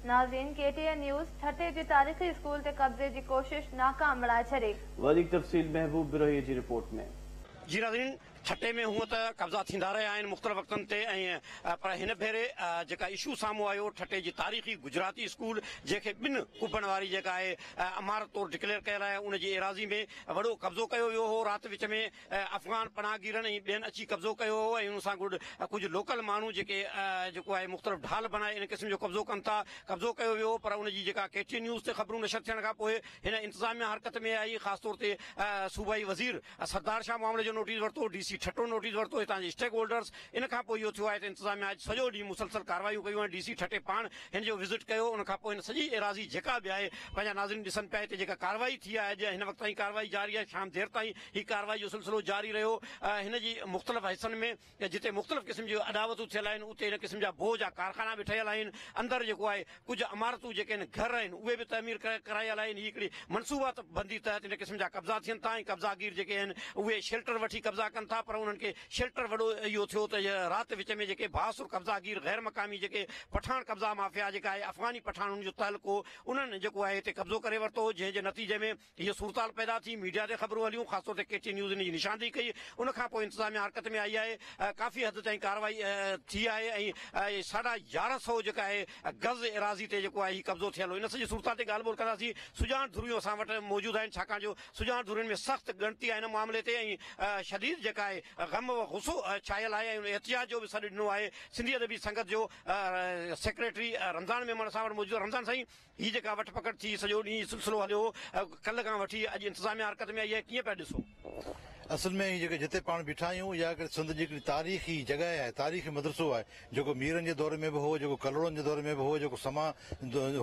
ناظرين K T N news, Thatta جي تاريخي اسڪول تي قبضي جي ڪوشش ناڪام بڻائي ڇڏي. وڌيڪ تفصيل محبوب بروهي جي رپورٽ ۾. جي ناظرين ٺٽي ۾ هونئن ته قبضا ٿيندا رهيا آهن مختلف وقتن تي ۽ پر هن ڀيري جيڪا اشو سامهون آيو ٺٽي جي تاريخي گجراتي اسڪول جنهن کي ٻن ڪبن واري جيڪا آهي عمارت طور ڊڪليئر ڪيل آهي ان جي ايراضي ۾ وڏو قبضو ڪيو ويو هو رات وچ ۾ افغان پناهگيرن ۽ ٻين اچي قبضو ڪيو هو ۽ ان سان گڏ ڪجهه لوڪل ماڻهو جيڪي جيڪو آهي مختلف ڍال بڻائي ان قسم جو قبضو ڪن ٿا قبضو ڪيو ويو هو پر ان جي جيڪا ڪي ٽي اين نيوز تي خبرون نشر ٿيڻ کان پوء هن انتظاميا حرڪت ۾ آئي خاص طور تي صوبائي وزير سردار شاهه معاملي جو نوٽيس ورتو ڊي سي ٺٽو نوٽيس ورتو هتان جي اسٽيڪ هولڊرز ان کان پوء اهو ٿيو آهي ته انتظاميا اڄ سڄو ڏينهن مسلسل ڪاروايون ڪيون ۽ ڊي سي ٺٽي پاڻ هن جو وزٽ ڪيو ان کان پوء هن سڄي ايراضي جيڪا به آهي پنهنجا ناظرين ڏسن پيا هتي جيڪا ڪارروائي ٿي آهي اڄ هن وقت تائين ڪارروائي جاري آهي شام دير تائين هي ڪارروائي جو سلسلو جاري رهيو ۽ هن جي مختلف حصن ۾ جتي مختلف قسم جون اڏاوتون ٿيل آهن اتي هن قسم جا بوهه جا ڪارخانا به ٺهيل آهن اندر جيڪو آهي ڪجهه عمارتون جيڪي آهن گهر آهن اهي به تعمير ڪرايل آهن هي هڪڙي منصوبات بندي تحت هن قسم جا قبضا ٿين ٿا ۽ قبضا گير جيڪي آهن اهي شيلٽر وٺي قبضا ڪن ٿا پر انهن کي شيلٽر وڏو اهو ٿيو ته رات وچ ۾ جيڪي بااثر قبضا گير غير مقامي جيڪي پٺاڻ قبضا مافيا جيڪا آهي افغاني پٺاڻ ان جو تعلقو انهن جيڪو آهي هتي قبضو ڪري ورتو جنهن جي نتيجي ۾ هيء صورتحال پيدا ٿي، ميڊيا تي خبرون هليون، خاص طور تي ڪي ٽي نيوز ان جي نشاندهي ڪئي، ان کان پوء انتظاميا حرڪت ۾ آئي آهي، ڪافي حد تائين ڪارروائي ٿي آهي ۽ ساڍا يارهن سؤ جيڪا آهي گز ايراضي تي جيڪو آهي هي قبضو ٿيل هو، ان سڄي صورتحال تي ڳالهه ٻولهه ڪنداسين، سڄاڻ ڌريون اسان وٽ موجود آهن، ڇاڪاڻ جو سڄاڻ ڌرين ۾ سخت ڳڻتي آهي ان معاملي تي ۽ شديد جيڪا آهي غم و غصو ڇايل آهي ۽ ان احتجاج جو به سڏ ڏنو آهي، سنڌي ادبي سنگت جو سيڪريٽري رمضان ميمڻ اسان وٽ موجود آهي، رمضان سائين! هي جيڪا وٺ پڪڙ ٿي سڄو ڏينهن هي سلسلو هليو ڪلهه کان وٺي اڄ انتظاميا حرڪت ۾ آئي آهي ڪيئن پيا ڏسو. اصل ۾ هي جيڪي جتي پاڻ بيٺا آهيون اها هڪڙي سنڌ جي هڪڙي تاريخي جڳهه آهي تاريخي مدرسو آهي جيڪو ميرن جي دور ۾ به هو جيڪو ڪلهوڙن جي دور ۾ به هو جيڪو سما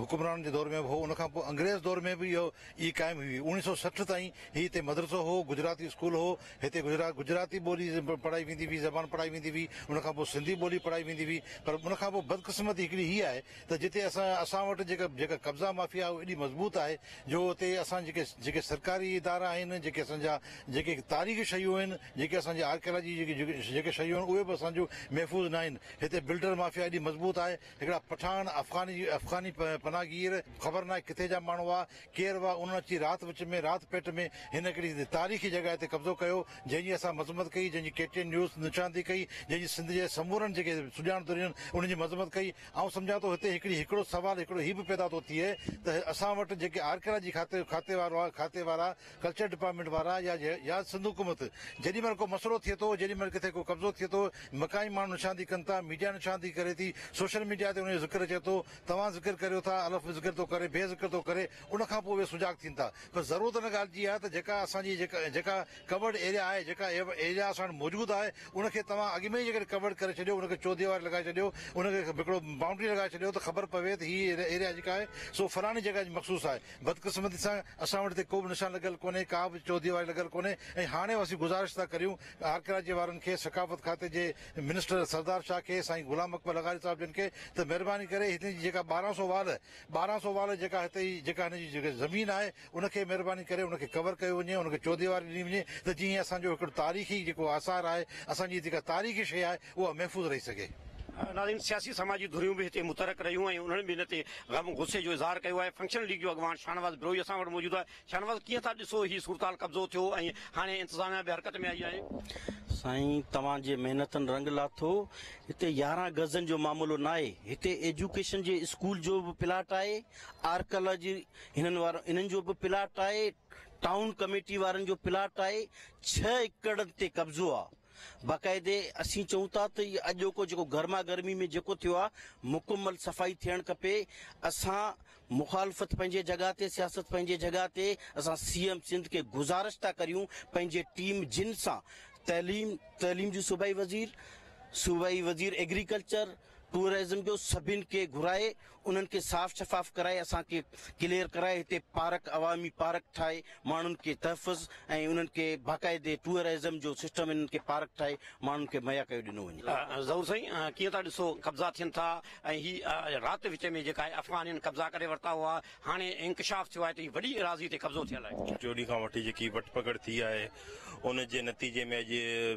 حڪمرانن جي دور ۾ به هو ان کان پوء انگريز دور ۾ به اهو ئي قائم هئي اوڻيهه سو سٺ تائين هي هتي مدرسو هو گجراتي اسڪول هو هتي گجراتي ٻولي پڙهائي ويندي هئي زبان پڙهائي ويندي هئي ان کان پوء سنڌي ٻولي پڙهائي ويندي هئي پر ان کان پوء بدقسمتي هڪڙي هي آهي ته جتي اسان اسان وٽ جيڪا جيڪا قبضا مافيا اهو ايڏي مضبوط آهي جو اتي اسان جيڪي جيڪي سرڪاري ادارا آهن جيڪي اسان جا جيڪي تاريخي شيون آهن جيڪي اسان جي آرڪيالاجي جي جيڪي جيڪي شيون آهن اهي به اسان جون محفوظ ناهن هتي بلڊر مافيا ايڏي مضبوط آهي هڪڙا پٺاڻ افغاني افغاني پناهه گير خبر ناهي ڪٿي جا ماڻهو هئا ڪير هئا انهن اچي رات وچ ۾ رات پيٽ ۾ هن هڪڙي تاريخي جڳهه تي قبضو ڪيو جنهن جي اسان مذمت ڪئي جنهن جي ڪي ٽي اين نيوز نشاندهي ڪئي جنهن جي سنڌ جي سمورن جيڪي سڄاڻ دورين انهن جي مذمت ڪئي آئون سمجهان ٿو هتي هڪڙي هڪڙو سوال هڪڙو هي به پيدا ٿو ٿئي ته اسان وٽ جيڪي آرڪيالاجي کاتي کاتي وارا کاتي وارا ڪلچر ڊپارٽمينٽ وارا يا يا سنڌ حڪومت جيڏي مهل ڪو مسئلو ٿئي ٿو جيڏي مهل ڪٿي ڪو قبضو ٿئي ٿو مقامي ماڻهو نشاندهي ڪن ٿا ميڊيا نشاندهي ڪري ٿي سوشل ميڊيا تي ان جو ذڪر اچي ٿو توهان ذڪر ڪريو ٿا الف به ذڪر ٿو ڪري بي ذڪر ٿو ڪري ان کان پوء اهي سجاڳ ٿين ٿا پر ضرورت ان ڳالهه جي آهي ته جيڪا اسان جي جيڪا جيڪا ڪورڊ ايريا آهي جيڪا ايريا اسان وٽ موجود آهي ان کي توهان اڳ ۾ ئي جيڪڏهن ڪورڊ ڪري ڇڏيو ان کي چوڌيواري لڳائي ڇڏيو ان کي هڪڙو بائونڊري لڳائي ڇڏيو ته خبر پوي ته هي ايريا جيڪا آهي سو فلاڻي جڳهه جي مخصوص آهي بدقسمتي سان اسان وٽ هتي ڪوبه نشان لڳل ڪونهي ڪا به چوڌيواري لڳل ڪونهي ۽ هاڻي اسين گذارش ٿا ڪريون آرڪيالاجي وارن کي ثقافت کاتي جي منسٽر سردار شاهه کي سائين غلام اڪبر لغاري صاحب جن کي ته مهرباني ڪري هتي جي جيڪا ٻارهن سو وال ٻارهن سو وال جيڪا هتي جي جيڪا هن جي زمين آهي ان کي مھرباني ڪري ان کي ڪور ڪيو وڃي ان کي چوديواري ڏني وڃي ته جيئن اسان جو ھڪڙو تاريخي جيڪو آثار آھي اسان جي جيڪا تاريخي شيء آھي اھا محفوظ رھي سگھي. ناظرين سياسي سماجي ڌريون به هتي متحرڪ رهيون ۽ انهن به ان تي غم غصي جو اظهار ڪيو آهي فنڪشنل ليگ جو اڳواڻ شاهنواز بروهي اسان وٽ موجود آهي شاهنواز ڪيئن ٿا ڏسو هي صورتحال قبضو ٿيو ۽ هاڻي انتظاميا به حرڪت ۾ آئي آهي سائين توهان جي محنتن رنگ لاٿو هتي يارهن گزن جو معاملو ناهي هتي ايجوڪيشن جي اسڪول جو به پلاٽ آهي آرڪيالاجي هنن وارو انهن جو به پلاٽ آهي ٽائون ڪميٽي وارن جو پلاٽ آهي ڇهه ايڪڙ تي قبضو آ باقاعدي اسين چئون ٿا ته هي اڄوڪو جيڪو گرما گرمي ۾ جيڪو ٿيو آ مڪمل صفائي ٿيڻ کپي اسان مخالفت پنهنجي جڳهه تي سياست پنهنجي جڳهه تي اسان سي ايم سنڌ کي گزارش ٿا ڪريون پنهنجي ٽيم جن سان تعليم تعليم جي صوبائي وزير صوبائي وزير ايگريڪلچر ٽوئرزم جو سڀني کي گهرائي انهن کي صاف شفاف ڪرائي اسان کي ڪليئر ڪرائي هتي پارڪ عوامي پارڪ ٺاهي ماڻهن کي تحفظ ۽ انهن کي باقاعدي ٽوئرزم جو سسٽم انهن کي پارڪ ٺاهي ماڻهن کي مهيا ڪيو ڏنو وڃي. ظهور سائين ڪيئن ٿا ڏسو قبضا ٿين ٿا ۽ هي رات وچ ۾ جيڪا آهي افغانين قبضا ڪري ورتا هئا هاڻي انڪشاف ٿيو آهي ته هي وڏي ايراضي تي قبضو ٿيل آهي. جوڏي کان وٺي جيڪي وٺ پڪڙ ٿي آهي ان جي نتيجي ۾ اڄ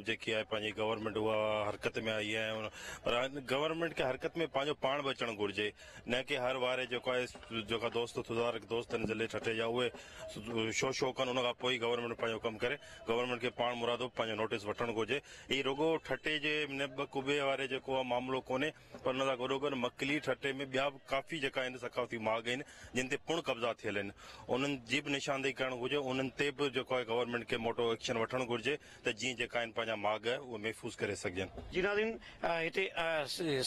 جيڪي آهي پنهنجي گورنمينٽ اها حرڪت ۾ آئي آهي پر گورنمينٽ کي حرڪت ۾ پنهنجو پاڻ به اچڻ گهرجي نه ڪي هر واري جيڪو آهي جيڪا دوست تدارڪ دوست آهن ضلعي ٺٽي جا اهي شو شو ڪن ان کان پوء ئي گورنمينٽ پنهنجو ڪم ڪري گورنمينٽ کي پاڻ مرادو پنهنجو نوٽيس وٺڻ گهرجي هي رڳو ٺٽي جي نه ٻه قوبي واري جيڪو معاملو ڪونهي پر ان سان گڏوگڏ مڪلي ٺٽي ۾ ٻيا به ڪافي جيڪا هن ثقافتي ماڳ آهن جن تي پڻ قبضا ٿيل آهن انهن جي به نشاندهي ڪرڻ گهرجي انهن تي به جيڪو آهي گورنمينٽ کي موٽو ايڪشن وٺڻ گهرجي ته جيئن جيڪا آهن پنهنجا ماڳ اهي محفوظ ڪري سگهجن. جي ناظرين هتي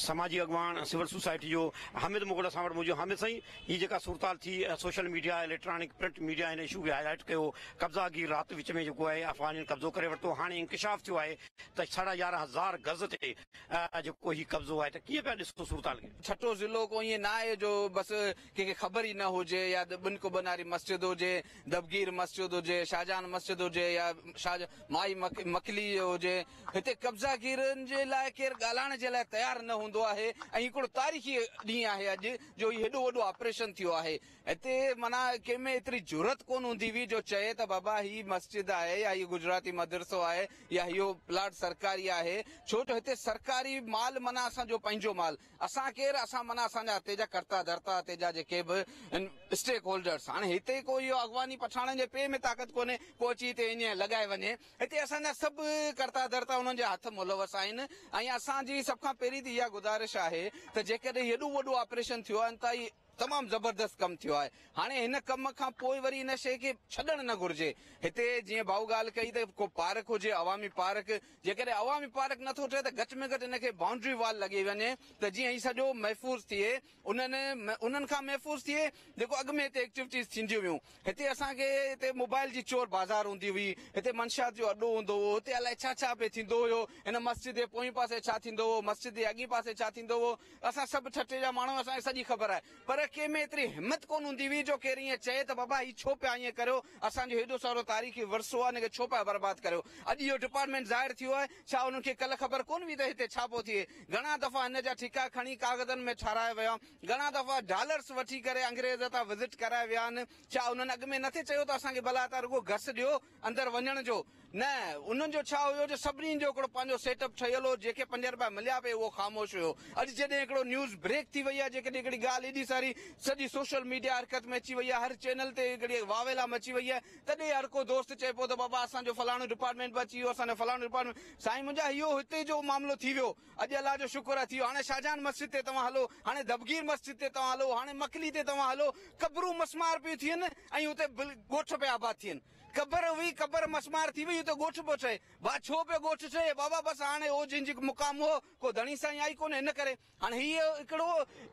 سماجي اڳواڻ سول سوسائٽي جو حامد مغل اسان وٽ موجود حامد سائين هي جيڪا صورتحال ٿي social media electronic print media هن اشو کي هاء لائيٽ ڪيو قبضا گير رات وچ ۾ جيڪو آهي افغانين قبضو ڪري ورتو هاڻي انڪشاف ٿيو آهي ته ساڍا يارهن هزار گز تي اها جيڪو هي قبضو آهي ته ڪيئن پيا ڏسو صورتحال کي. ٺٽو ضلعو ڪو ائين ناهي جو بس ڪنهن کي خبر ئي نه هجي يا بن ڪو بناري مسجد هجي، دبگير مسجد هجي، شاهجهان مسجد هجي يا شاهه مائي مڪلي هجي هتي قبضا گيرن جي لاء ڪير ڳالهائڻ جي لاء تيار نه هوندو آهي ۽ هڪڙو تاريخي ڏينهن آهي اڄ جو هي هيڏو وڏو آپريشن ٿيو آهي. هتي معنيٰ ڪنهن ۾ ايتري جرئت ڪونه هوندي هئي جو چئي ته بابا هي مسجد آهي يا هي گجراتي مدرسو آهي يا اهو پلاٽ سرڪاري آهي ڇو جو هتي سرڪاري مال معنيٰ اسان جو پنهنجو مال اسان ڪير اسان معنيٰ اسان جا هتي جا ڪرتا ڌرتا هتي جا جيڪي به ان اسٽيڪ هولڊرس هاڻي هتي ڪو اهو اغواني پٺاڻن جي پي ۾ طاقت ڪونهي ڪو اچي هتي ايئن لڳائي وڃي هتي اسان جا سڀ ڪرتا ڌرتا انهن جي هٿ ملوث آهن ۽ اسان جي سڀ کان پهرين ته اها گذارش آهي ته جيڪڏهن هيڏو وڏو آپريشن ٿيو آهي ته تمام زبردست ڪم ٿيو آهي هاڻي هن ڪم کان پوء وري ان شي کي ڇڏڻ نه گهرجي هتي جيئن ڀائو ڳالهه ڪئي ته ڪو پارڪ هجي عوامي پارڪ جيڪڏهن عوامي پارڪ نٿو ٺهي ته گهٽ ۾ گهٽ ان کي بائونڊري وال لڳي وڃي ته جيئن هي سڄو محفوظ ٿئي انهن انهن کان محفوظ ٿئي جيڪو اڳ ۾ هتي ايڪٽيوٽيز ٿينديون هيون هتي اسان کي هتي موبائل جي چور بازار هوندي هئي هتي منشيات جو اڏو هوندو هو هتي الائي ڇا ڇا پئي ٿيندو هيو هن مسجد جي پوئين پاسي ڇا ٿيندو هو مسجد جي اڳين پاسي ڇا ٿيندو هو اسان سڀ ٺٽي جا ماڻهو اسان کي سڄي خبر آهي پر ڪنهن ۾ ايتري همت ڪونه هوندي هئي جو ڪير ائين چئي ته بابا هي ڇو پيا ائين ڪريو اسان جو هيڏو سارو تاريخي ورثو آهي ان کي ڇو پيا برباد ڪريو اڄ اهو ڊپارٽمينٽ ظاهر ٿيو آهي ڇا انهن کي ڪلهه خبر ڪونه هئي ته هتي ڇا پيو ٿئي گهڻا دفعا هن جا ٺيڪا کڻي ڪاغذن ۾ ٺارايا ويا گهڻا دفعا ڊالرس وٺي ڪري انگريز تان وزٽ ڪرائي ويا آهن ڇا انهن اڳ ۾ نٿي چيو ته اسان کي ڀلا تان رڳو گس ڏيو اندر وڃڻ جو نه انهن جو ڇا هيو جو سڀني جو هڪڙو پنهنجو سيٽ اپ ٺهيل هو جنهن کي پنج رپيا مليا به اهو خاموش هيو اڄ جڏهن هڪڙو نيوز بريڪ ٿي وئي آهي جيڪڏهن هڪڙي ڳالهه ايڏي ساري سڄي سوشل ميڊيا حرڪت ۾ اچي وئي آهي هر چينل تي هڪڙي واويلا مچي وئي آهي تڏهن هر ڪو دوست چئي پيو ته بابا اسان جو فلاڻو ڊپارٽمينٽ به اچي ويو اسان جو فلاڻو ڊپارٽمينٽ سائين منهنجا اهو هتي جو معاملو ٿي ويو اڄ الله جو شڪر اٿيو هاڻي شاهجهان مسجد تي توهان هلو هاڻي دبگير مسجد تي توهان هلو هاڻي مڪلي تي توهان هلو قبرون مسمار پيون ٿين ۽ اتي ڳوٺ پيا آباد ٿين قبر هئي قبر مسمار ٿي وئي اتي ڳوٺ پيو ٺهي ڀا ڇو پيو ڳوٺ ٺهي بابا بس هاڻي هو جنهن جي مقام هو ڪو ڌڻي سائين آئي ڪونه ان ڪري هاڻي هي هڪڙو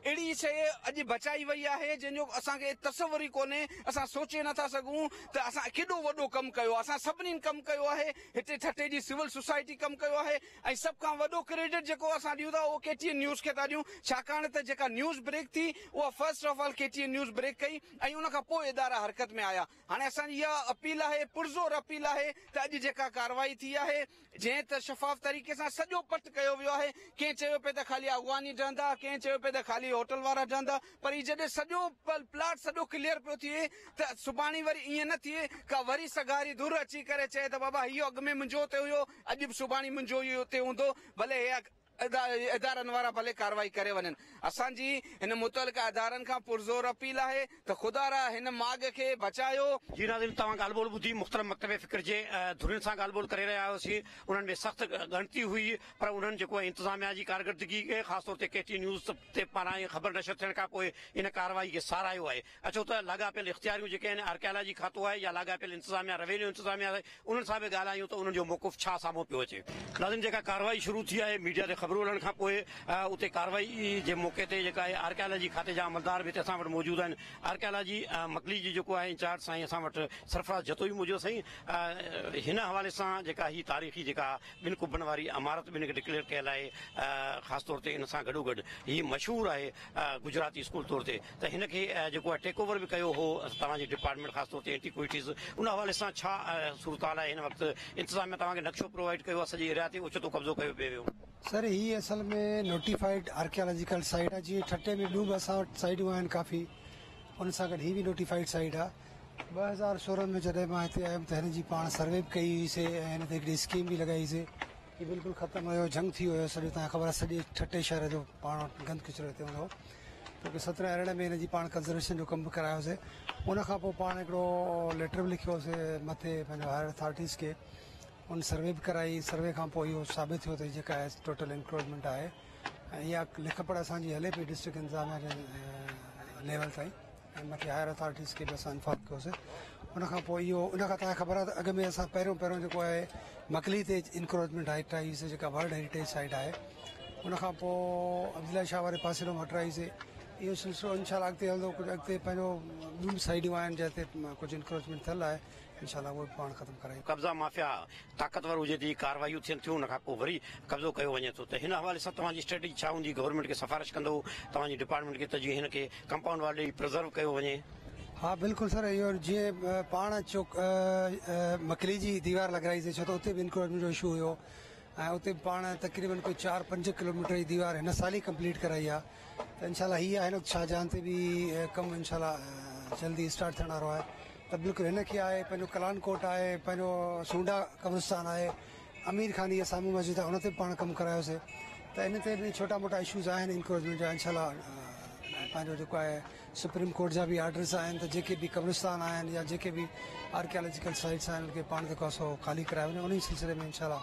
اهڙي شيء اڄ بچائي وئي آهي جنهن جو اسان کي تصور ئي ڪونهي اسان سوچي نٿا سگهون ته اسان ڪيڏو وڏو ڪم ڪيو آهي اسان سڀني ڪم ڪيو آهي هتي ٺٽي جي سول سوسائٽي ڪم ڪيو آهي ۽ سڀ کان وڏو ڪريڊٽ جيڪو اسان ڏيون ٿا اهو ڪي ٽي اين نيوز کي ٿا ڏيون ڇاڪاڻ ته جيڪا نيوز بريڪ ٿي اها first of all K T N news break ڪئي ۽ ان کان پوء ادارا حرڪت ۾ آيا هاڻي اسان جي اها اپيل آهي پرزور اپيل آهي ته اڄ جيڪا ڪارروائي ٿي آهي جنهن ته شفاف طريقي سان سڄو پٽ ڪيو ويو آهي ڪنهن چيو پئي ته خالي اغواني ڊهندا ڪنهن چيو پئي ته خالي هوٽل وارا ڊهندا پر هي جڏهن سڄو پلاٽ سڄو ڪليئر پيو ٿئي ته سڀاڻي وري ائين نه ٿئي ڪا وري سگهاري ڌر اچي ڪري چئي ته بابا هي اڳ ۾ منهنجو اتي هيو اڄ به سڀاڻي منهنجو ئي اتي هوندو ڀلي هي ادارن وارا ڀلي ڪارروائي ڪري وڃن اسان جي هن متعلقه ادارن کان پرزور اپيل آهي ته خدا را هن ماڳ کي بچايو. جي ناظرين توهان ڳالهه ٻولهه ٻڌي مختلف مڪتب فڪر جي ڌرين سان ڳالهه ٻولهه ڪري رهيا هياسين انهن ۾ سخت ڳڻتي هئي پر انهن جيڪو انتظاميا جي ڪارڪردگي خاص طور تي ڪي ٽي نيوز تي پاران اهي خبر نشر ٿيڻ کان پوء ان ڪارروائي کي ساراهيو آهي. اڇو ته لاڳاپيل اختياريون جيڪي آهن آرڪيالاجي کاتو آهي يا لاڳاپيل انتظاميا روينيو انتظاميا آهي انهن سان به ڳالهايون ته انهن جو موقف ڇا سامهون پيو اچي. ناظرين جيڪا ڪارروائي شروع ٿي آهي ميڊيا تي خبرون هلڻ کان پوء اتي ڪارروائي جي موقعي تي جيڪا آهي آرڪيالاجي کاتي جا عملدار به هتي اسان وٽ موجود آهن آرڪيالاجي مڪلي جي جيڪو آهي انچارج سائين اسان وٽ سرفراز جتوئي موجود آهي سائين هن حوالي سان جيڪا هي تاريخي جيڪا ٻن قبن واري عمارت به هن کي ڊڪليئر ڪيل آهي خاص طور تي ان سان گڏوگڏ هي مشهور آهي گجراتي اسڪول طور تي ته هن کي جيڪو آهي ٽيڪ اوور به ڪيو هو توهان جي ڊپارٽمينٽ خاص طور تي اينٽي ڪوئٽيز ان حوالي سان ڇا صورتحال آهي هن وقت انتظاميا توهان کي نقشو پرووائيڊ ڪيو آهي سڄي ايريا تي اوچتو قبضو ڪيو پئي ويو سر هي اصل ۾ نوٽيفائيڊ آرڪيالاجيڪل سائيٽ آهي جيئن ٺٽي ۾ ٻيون به اسان وٽ سائيٽون آهن ڪافي ان سان گڏ هي به نوٽيفائيڊ سائيٽ آهي ٻه هزار سورهن ۾ جڏهن مان هتي آيم ته هن جي پاڻ سروي به ڪئي هئي سي ۽ هن تي هڪڙي اسڪيم به لڳائي سي جي بلڪل ختم هيو جهنگ ٿي ويو سڄو تان خبر آهي سڄي ٺٽي شهر جو پاڻ وٽ گند ڪچرو هتي هوندو هو ته ڪي سترهن ارڙهن ۾ هن جي پاڻ ڪنزرويشن جو ڪم به ڪرايو سي ان کان پوء پاڻ هڪڙو ليٽر به لکيو سي مٿي پنهنجو هائر اٿارٽيز کي ان سروي به ڪرائي سروي کان پوء اهو ثابت ٿيو ته جيڪا ٽوٽل انڪروچمينٽ آهي ۽ اها لک پڙهه اسان جي هلي پئي ڊسٽرڪٽ انتظاميا جي ليول تائين ۽ مٿي هائر اٿارٽيز کي به اسان انفارم ڪيوسي ان کان پوء اهو ان کان تان خبر آهي ته اڳ ۾ اسان پهريون پهريون جيڪو آهي مڪلي تي انڪروچمينٽ هائٽ آئي سي جيڪا ورلڊ هيريٽيج سائيٽ آهي ان کان پوء عبدالله شاهه واري پاسي ڏانهن مٽ آئي سي اهو سلسلو انشاء الله اڳتي هلندو ڪجهه اڳتي پنهنجو ٻيون سائيڊون آهن جنهن تي ڪجهه انڪروچمينٽ ٿيل آهي انشاء الله اهو به پاڻ ختم ڪرائيندو. قبضا مافيا طاقتور هجي جي ڪاروايون ٿين ٿيون ان کان پوء وري قبضو ڪيو وڃي ٿو ته هن حوالي سان توهان جي اسٽريٽجي ڇا هوندي گورنمينٽ کي سفارش ڪندو توهان جي ڊپارٽمينٽ کي ته جيئن هن کي ڪمپائونڊ وال ڏئي پرزرو ڪيو وڃي. ها بلڪل سر اهو جيئن پاڻ چوڪ مڪلي جي ديوار لڳرائي سي ڇو ته اتي به انڪروچمينٽ جو اشو هيو ۽ اتي به پاڻ تقريبن ڪوئي چار پنج ڪلوميٽر جي ديوار هن سال ئي ڪمپليٽ ڪرائي آهي ته انشاء الله هي آهي نقد شاهجهان تي به ڪم انشاء الله جلدي اسٽارٽ ٿيڻ وارو آهي ته بلڪل هن کي آهي پنهنجو ڪلان ڪوٽ آهي پنهنجو سونڊا قبرستان آهي امير خان جي سامهون مسجد آهي ان تي به پاڻ ڪم ڪرايوسي ته ان تي به ڇوٽا موٽا اشوز آهن انڪروچمينٽ جا انشاء الله پنهنجو جيڪو آهي سپريم ڪورٽ جا به آرڊرس آهن ته جيڪي به قبرستان آهن يا جيڪي به آرڪيالاجيڪل سائيٽس آهن ان کي پاڻ جيڪو آهي سو خالي ڪرايو وڃي ان سلسلي ۾ انشاء الله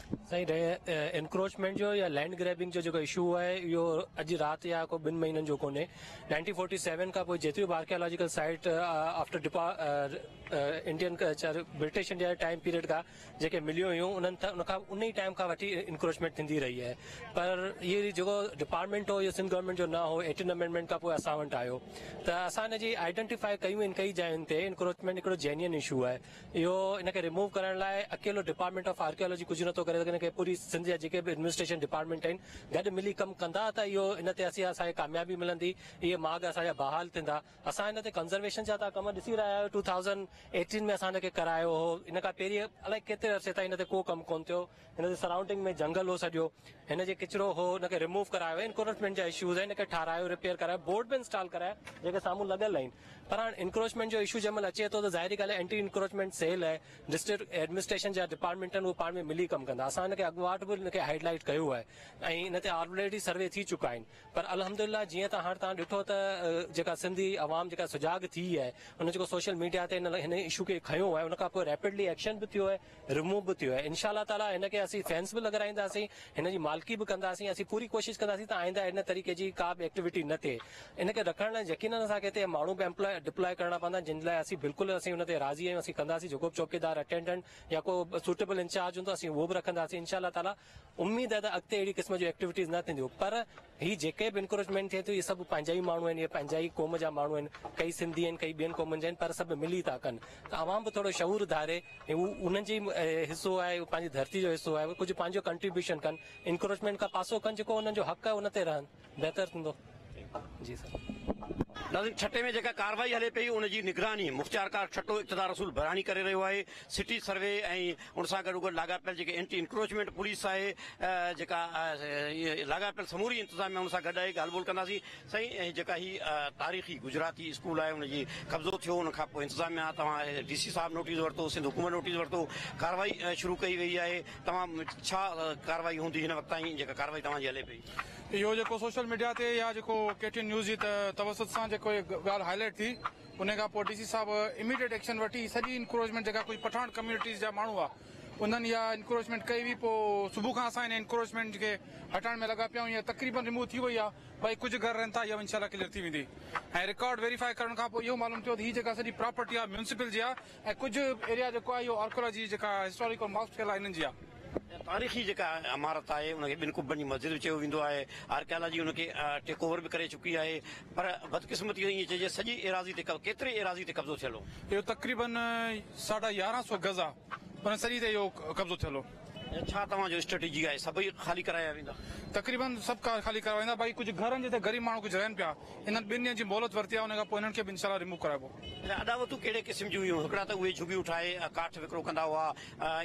سائين رهي انڪروچمينٽ جو يا لينڊ گريبنگ جو جيڪو اشو آهي اهو اڄ رات يا ڪو ٻن مهينن جو ڪونهي نائنٽين فورٽي سيون کان پوء جيتريون به آرڪيالاجيڪل سائيٽ آفٽر ڊپا Indian culture British India time period کان جيڪي مليون هيون انهن ان کان ان ئي ٽائم کان وٺي انڪروچمينٽ ٿيندي رهي آهي پر هي جيڪو ڊپارٽمنٽ هو اهو سنڌ گورنمنٽ جو نه هو ايٽن امينڊمنٽ کان پوء اسان وٽ آيو ته اسان ان جي آئيڊينٽيفائي ڪيون آهن ڪئي جاين تي انڪروچمينٽ هڪڙو جينين اشو آهي اهو ان کي ريموو ڪرڻ لاء اڪيلو ڊپارٽمينٽ آف آرڪيالاجي ڪجهه نٿو ڪري سگهي ان کي پوري سنڌ جا جيڪي به ايڊمنسٽريشن ڊپارٽمينٽ آهن گڏ ملي ڪم ڪندا ته اهو ان تي اسين اسان کي ڪاميابي ملندي اهي ماڳ اسان جا بحال ٿيندا اسان هن تي ڪنزرويشن جا تان ڪم ڏسي رهيا آهيو ٽو ٿائوزنڊ ايٽين ۾ اسان ان کي ڪرايو هو ان کان پهرين الائي ڪيتري عرصي تائين ان تي ڪو ڪم ڪون ٿيو هن جي سرائونڊنگ ۾ جهنگل هو سڄو هن جي ڪچرو هو ان کي ريموو ڪرايو ويو انڪروچمينٽ جا اشوز آهن ان کي ٺارايو ريپيئر ڪرايو بورڊ به انسٽال ڪرايا جيڪي سامهون لڳل آهن پر هاڻ انڪروچمينٽ جو اشو جنهن مهل اچي ٿو ته ظاهري ڳالهه اينٽي انڪروچمينٽ سيل آهي ڊسٽرڪٽ ايڊمنسٽريشن جا ڊپارٽمينٽ آهن اهي پاڻ ۾ ملي ڪم ڪندا اسان هن کي اڳواٽ به هن کي هائيڊ لائيٽ ڪيو آهي ۽ هن تي آلريڊي سروي ٿي چڪا آهن پر الحمدلله جيئن ته هاڻ تان ڏٺو ته جيڪا سنڌي عوام جيڪا سجاڳ ٿي آهي ان جيڪو سوشل ميڊيا تي هن هن اشو کي کنيو آهي ان کان پوء ريپڊلي ايڪشن به ٿيو آهي رموو به ٿيو آهي انشاء الله تعالٰي هن کي اسين فينس به لڳرائينداسين هن جي مالڪي به ڪنداسين اسين پوري ڪوشش ڪنداسين ته آئنده ان طريقي جي ڪا به ايڪٽيوٽي نه ٿئي ان کي رکڻ لاء يقينن اسان کي هتي ماڻهو به امپلاء ڊپلاء ڪرڻا پوندا جن لاء اسين بلڪل اسين ان تي راضي آهيون اسين ڪنداسين جيڪو به چوڪيدار اٽينڊنٽ يا ڪو سوٽيبل انچارج هوندو اسين اهو به رکنداسين انشاء الله تعالٰي اميد آهي ته اڳتي اهڙي قسم جون ايڪٽيوٽيز نه ٿينديون پر هي جيڪي به انڪريجمينٽ ٿئي ٿيون اهي سڀ پنهنجا ئي ماڻهو آهن اهي پنهنجا ئي قوم جا ماڻهو آهن ڪئي سنڌي آهن ڪئي ٻين قومن جا آهن پر سڀ ملي ٿا ڪن ته عوام به ٿورو شعور ڌاري هو انهن جي حصو آهي هو پنهنجي ڌرتي جو حصو آهي هو ڪجهه پنهنجو ڪنٽريبيوشن ڪن انڪريجمينٽ کان پاسو ڪن جيڪو انهن جو حق آهي ان تي رهن بهتر ٿيندو جي سر. ناظرين ٺٽي ۾ جيڪا ڪارروائي هلي پئي ان جي نگراني مختيارڪار ٺٽو اقتدار رسول بهراڻي ڪري رهيو آهي سٽي سروي ۽ ان سان گڏوگڏ لاڳاپيل جيڪي اينٽي انڪروچمينٽ پوليس آهي جيڪا لاڳاپيل سموري انتظاميا ان سان گڏ آهي ڳالهه ٻولهه ڪنداسين سائين جيڪا هي تاريخي گجراتي اسڪول آهي ان جي قبضو ٿيو ان کان پوء انتظاميا توهان ڊي سي صاحب نوٽيس ورتو سنڌ حڪومت نوٽيس ورتو ڪارروائي شروع ڪئي وئي آهي توهان ڇا ڪارروائي هوندي هن وقت تائين جيڪا ڪارروائي توهان جي هلي پئي اهو جيڪو سوشل ميڊيا تي يا جيڪو ڪي ٽي اين نيوز جي توسط سان جيڪو هي ڳالهه هاء لائيٽ ٿي انهي کان پوء ڊي سي صاحب اميڊيٽ ايڪشن وٺي سڄي انڪروچمينٽ جيڪا ڪجهه پٺاڻ ڪميونٽيز جا ماڻهو آ انهن اها انڪروچمينٽ ڪئي هئي پوء صبح کان اسان هن انڪروچمينٽ کي هٽائڻ ۾ لڳا پيا آهيون اها تقريبن ريموو ٿي وئي آ باقي ڪجهه گهر رهن ٿا اها به انشاء الله ڪليئر ٿي ويندي ۽ رڪارڊ ويريفائي ڪرڻ کان پوء اهو معلوم ٿيو ته هي جيڪا سڄي پراپرٽي آ ميونسپل جي آ ۽ ڪجهه ايريا جيڪو آهي اهو آرڪيالاجي جيڪا هسٽاريڪل ماڪس ٿيل آهي انهن جي آهي. تاريخي جيڪا عمارت آهي ان کي ٻن قبن جي مسجد به چيو ويندو آهي. آرڪيالاجي ان کي ٽيڪ اوور به ڪري چڪي آهي پر بدقسمتي سان ائين چئجي سڄي ايراضي تي ڪيتري ايراضي تي قبضو ٿيل هو. اهو تقريبن ساڍا يارهن سو گز آهي ان سڄي تي اهو قبضو ٿيل هو. ڇا توهان جو اسٽريٽجي آهي سڀئي خالي ڪرايا ويندا؟ تقريبن سڀ ڪار خالي ڪرايا ويندا باقي ڪجهه گهرن جتي غريب ماڻهو ڪجهه رهن پيا انهن ٻن ڏينهن جي مهلت ورتي آهي ان کانپوء انهن کي به انشاء الله ريموو ڪرائبو. اڏاوتون ڪهڙي قسم جون هيون؟ هڪڙا ته اهي جهڳيون ٺاهي ڪاٺ وڪرو ڪندا هئا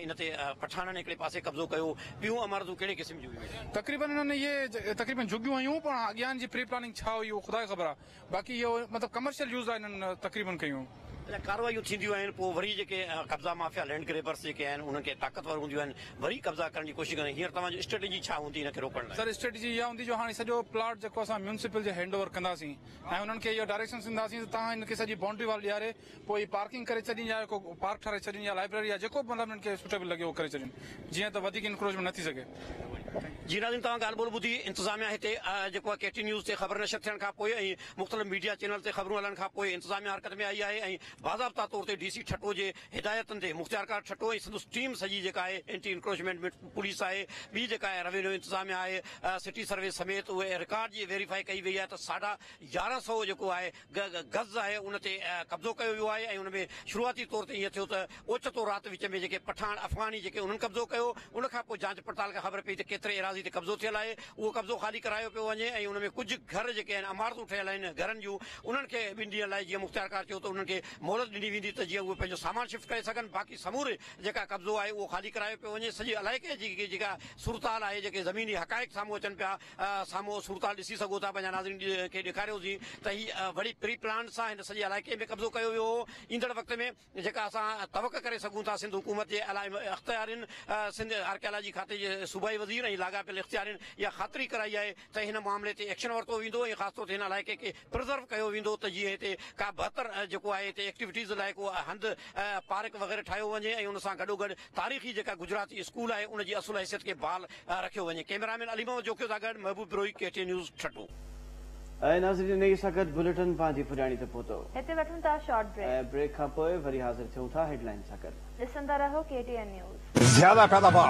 ان تي پٺاڻن هڪڙي پاسي قبضو ڪيو ٻيون عمارتون ڪهڙي قسم جون هيون؟ تقريبن انهن اهي تقريبن جهڳيون هيون پر اڳيان جي پري پلاننگ ڇا هئي اهو خدا کي خبر آهي. باقي اهو مطلب ڪمرشل يوز لاء انهن تقريبن ڪيون. جڏهن ڪارروايون ٿينديون آهن پوء وري جيڪي قبضا مافيا لينڊ گريبرس جيڪي آهن انهن کي طاقتور هونديون آهن وري قبضا ڪرڻ جي ڪوشش ڪندا آهن هينئر توهان جو اسٽريٽجي ڇا هوندي ان کي روڪڻ لاء؟ سر اسٽريٽجي اها هوندي جو هاڻي سڄو پلاٽ جيڪو اسان ميونسپل جي هينڊ اوور ڪنداسين ۽ انهن کي اهو ڊائريڪشنس ڏينداسين ته توهان ان کي سڄي بائونڊري وال ڏياري پوء هي پارڪنگ ڪري ڇڏين يا ڪو پارڪ ٺاهرائي ڇڏين يا لائبريري يا جيڪو به مطلب هنن کي سوٽيبل لڳي اهو ڪري ڇڏين جيئن ته وڌيڪ انڪروچمينٽ نه ٿي سگهي. جي ناظرين توهان ڳالهه ٻولهه ٻڌي انتظاميا هتي جيڪو آهي ڪي ٽي نيوز تي خبر نشر ٿيڻ کان پوء ۽ مختلف ميڊيا چينل تي خبرون هلڻ کان پوء انتظاميا حرڪت ۾ آئي آهي ۽ باضابطا طور تي ڊي سي ٺٽو جي هدايتن تي مختيارڪار ٺٽو ۽ سندس ٽيم سڄي جيڪا آهي اينٽي انڪروچمينٽ مٽ پوليس آهي ٻي جيڪا آهي روينيو انتظاميا آهي سٽي سروي سميت اهي رڪارڊ جي ويريفائي ڪئي وئي آهي ته ساڍا يارهن سئو جيڪو آهي غز آهي ان تي قبضو ڪيو ويو آهي ۽ ان ۾ شروعاتي طور تي ائين ٿيو ته اوچتو رات وچ ۾ جيڪي پٺاڻ افغاني جيڪي انهن قبضو ڪيو ان کان پوء جانچ پڙتال کان خبر پئي ته ڪيتري ايراضي تي قبضو ٿيل آهي اهو قبضو خالي ڪرايو پيو وڃي ۽ ان ۾ ڪجهه گهر جيڪي آهن عمارتون ٺهيل آهن گهرن جون انهن کي ٻن ڏينهن لاء جيئن مختيارڪار چيو ته انهن کي مهلت ڏني ويندي ته جيئن اهي پنهنجو سامان شفٽ ڪري سگهن باقي سموري جيڪا قبضو آهي اهو خالي ڪرايو پيو وڃي سڄي علائقي جي جيڪا صورتحال آهي جيڪي زميني حقائق سامهون اچن پيا سامهون اهو صورتحال ڏسي سگهو ٿا پنهنجا ناظرين کي ڏيکاريوسين ته هي وڏي پري پلان سان هن سڄي علائقي ۾ قبضو ڪيو ويو هو ايندڙ وقت ۾ جيڪا اسان توقع ڪري سگهون ٿا سنڌ حڪومت جي علائم اختيارين سنڌ آرڪيالاجي کاتي جي صوبائي وزير ۽ لاڳاپيل اختيارين اها خاطري ڪرائي آهي ته هن معاملي تي ايڪشن ورتو ويندو ۽ خاص طور تي هن علائقي کي پرزرو ڪيو ويندو ته جيئن هتي ڪا بهتر جيڪو آهي هتي ايڪٽيوٽيز لاء ڪو هنڌ پارڪ وغيره ٺاهيو وڃي ۽ ان سان گڏوگڏ تاريخي جيڪا گجراتي اسڪول آهي ان جي اصل حيثيت کي بحال رکيو وڃي ڪيمرا مين علي محمد جوکيو سان گڏ Mehboob Brohi K T news Thatta. اي ناظرين هي سخت بليٽن پنهنجي پڄاڻي تي پهتو. هتي وٺون ٿا شارٽ بريڪ. ۽ بريڪ کان پوء وري حاضر ٿيون ٿا هيڊلائين سان گڏ. ڏسندا رهو ڪي ٽي اين نيوز. زياده پيداوار